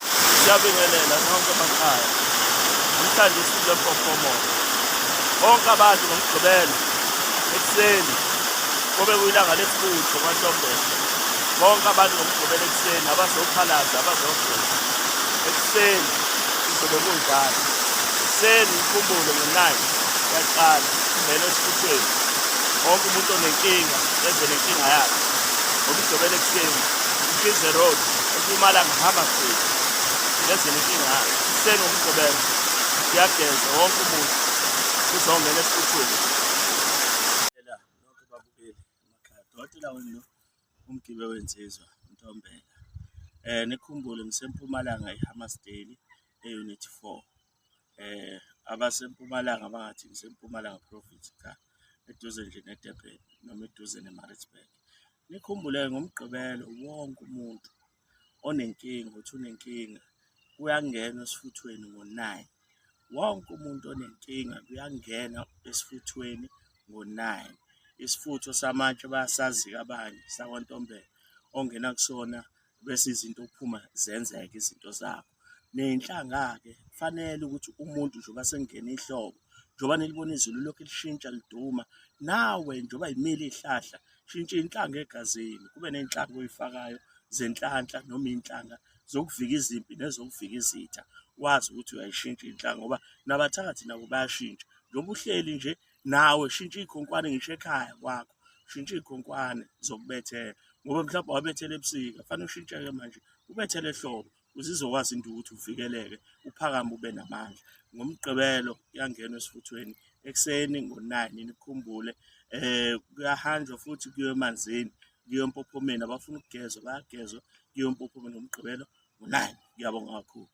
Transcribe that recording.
Siyabingelela nonke emakhaya. Namhlanje isizwe mpofomo. Bonke abantu ngomgqibelo ekuseni kube kuyilanga lesibutho kwaNtombela. Bonke abantu ngomgqibelo ekuseni abazophalaza abazogeza. Ekuseni kuzobe kunjalo. Ekuseni inkumbulo ngenayi yaqala ingena esifuthweni. Wonke umuntu onenkinga enze nenkinga yakhe. Ngomgqibelo ekuseni, Mkhize Road Mpumalanga hamba mfethu ngezini inkinga senu umsebenzi kuyageza wonke umuntu uzongena esifuthweni ela nonke babukeli emakhaya dotela wenu lo umgibe wensizwa ntombela eh nikhumbule ngisempumalanga ehammersdale eunit 4 eh abasempumalanga bangathi ngisempumalanga province cha eduze nje nedurban noma eduze nemaritzburg nikhumbule ngomgqibelo wonke umuntu onenkinga uthi unenkinga kuyangena esifuthweni ngo-nine wonke umuntu onenkinga kuyangena esifuthweni ngo-nine isifutho samatshe bayasazi-ke abanye sakwantombela ongena kusona bese izinto kuphuma zenzeka izinto zakho ney'nhlanga-ke kufanele ukuthi umuntu njengoba sekungena ihlobo njengoba nilibona izulu lokhu lishintsha liduma nawe njengoba yimile iy'hlahla shintsha iy'nhlanga egazini kube ney'nhlanga oyifakayo zenhlanhla noma iy'nhlanga zokuvika izimpi nezokuvika izitha wazi ukuthi uyayishintsha inhlanga ngoba nabathakathi nabo bayashintsha njengoba uhleli nje nawe shintsha iy'khonkwane ngisho ekhaya kwakho shintsha iy'khonkwane zokubethela ngoba mhlawumbe wabethela ebusika fanele ushintshe-ke manje ubethele ehlobo ukuze izokwazi into ukuthi uvikeleke uphakame ube namandla ngomgqibelo kuyangenwa esifuthweni ekuseni ngo-nine nikhumbule um kuyahanjwa futhi kuyo emanzini kuyo empophomeni abafuna ukugezwa bayagezwa kuyo empophomeni ngomgqibelo ngo-nine ngiyabonga kakhulu